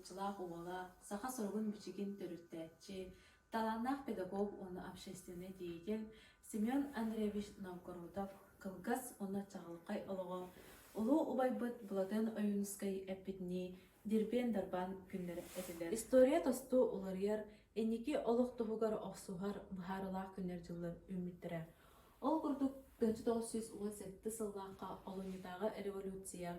уһууччулаах уола, саха суругун-бичигин төрүттээччи, талааннаах педагог уонна общественный деятель Семен Андреевич Новгородов кылгас уонна чаҕылхай олоҕо, улуу убайбыт Былатыан Ойуунускай эппитинии дирбиэн-дарбаан күннэрэ этилэр. История тосту уларыйар, инники олох туһугар охсуһар быһаарылаах күннэр-дьыллар үүммүттэрэ. Ол курдук, тыһыынча тоҕус сүүс уон сэттэ сыллаахха Олунньутааҕы революция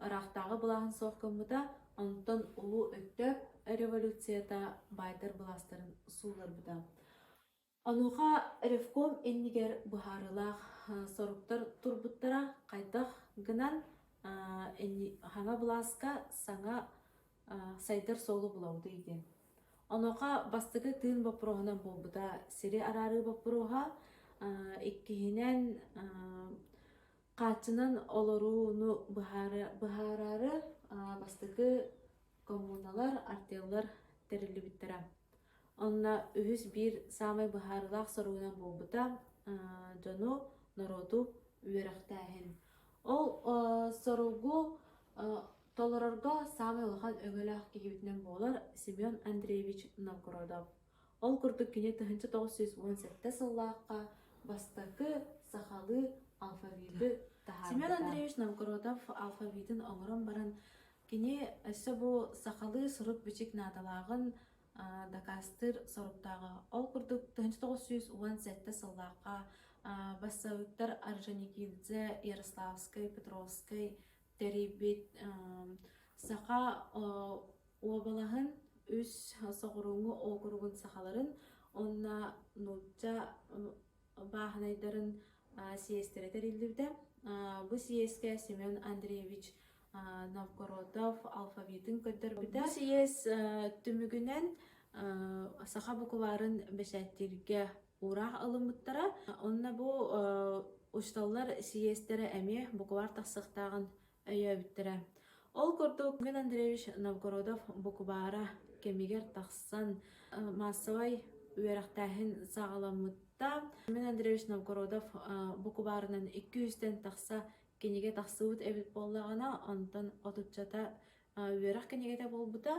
ыраахтааҕы былааһын суох гыммыта, онтон Улуу Өктөөп революцията баайдар былаастарын сууларбыта. Онуоха ревком иннигэр быһаарыылаах соруктар турбуттара хайдах гынан хаҥа былааска саҥа сайдар суолу булабытый диэн. Онуоха бастакы тыын боппуруоһунан буолбута сири араарыы боппуруоһа, иккиһинэн хааччынан олорууну быһаары быһаараары бастакы коммуналар, артеллар тэриллибиттэрэ. Онно үһүс биир саамай быһаарылаах соругунан буолбута дьону, норуоту үөрэхтээһин. Ол соругу толорорго саамай улахан өҥөлөөх киһибитинэн буолар Семен Андреевич Новгородов. Ол курдук кини 1978 сыллаахха бастакы сахалыы алфавиты таһаарбыта. Семен Андреевич Новгородов алфавитын оҥорон баран Кини өссө бу сахалыы сурук-бичик наадалааҕын дакаастыыр соруктааҕа. Ол курдук, тыһыынча тоҕус сүүс уон сэттэ сыллаахха бассаабыктар Орджоникидзе, Ярославскай, Петровскай тэрийбит саха уобалаһын үс соҕурууҥу округун сахаларын уонна нуучча бааһынайдарын сиэстэрэ тэриллибитэ. Бу сиэскэ Семен Андреевич Новгородов алфавитын көрдөрбүтэ. Бу сиэс түмүгүнэн саха букварын бэчээттииргэ уураах ылыммыттара. Онно бу учууталлар сиэстэрэ эмиэ букваар тахсыахтааҕын Өйөөбүттэрэ. Ол курдук Мин Андреевич Новгородов букубаара кэмигэр тахсан э, маассабай үөрэхтээһин саҕаламмытта. Мин Андреевич Новгородов э, букубаарынан 200-тэн тахса кинигэ тахсыбыт эбит буоллаҕына, онтон отуччата үөрэх кинигэтэ буолбута.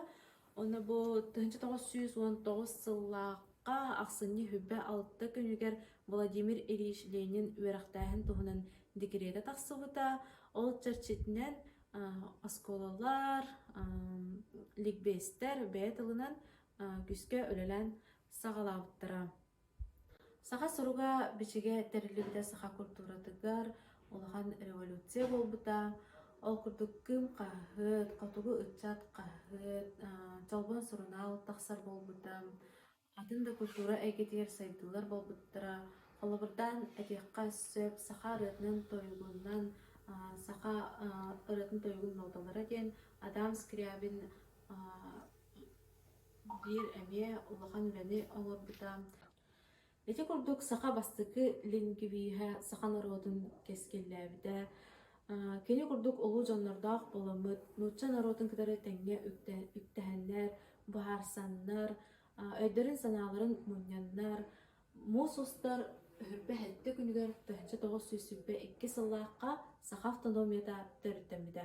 Онно бу 1909 сыллаахха ахсынньы сүбэ-алта күнүгэр Владимир Ильич Ленин үөрэхтээһин туһунан декретэ тахсыбыта. Ол чэрчитинэн оскуолалар, ликбиэстэр бэйэ тылынан күүскэ үлэлээн саҕалаабыттара. Саха суруга бичигэ тэриллибитэ саха культуратыгар улахан революция буолбута. Ол курдук Кыым хаһыат, Хотугу ыччат хаһыат, Чолбон сурунаал тахсар буолбута. Атын да культура эйгэтигэр сайдыылар буолбуттара. Холобурдаан этиэххэ сөп, саха ырыатынан тойугунан саха ырыатын тойугун ноталара диэн Адам Скрябин Биир эмиэ улахан үлэни оҥорбута. Ити курдук саха бастакы лингвиһэ саха норуотун кэскиллээбитэ. Аа, кини курдук улуу дьоннордоох буоламмыт, нуучча норуотун кытары тэҥҥэ үктэ- үктэһэннэр, быһаарсаннар, аа, өйдөрүн-санааларын мунньаннар, муус устар үһүрбэ сэттэ күнүгэр тыһыынча тоҕус сүүс сүүрбэ икки сыллаахха саха автономията төрүттэммитэ.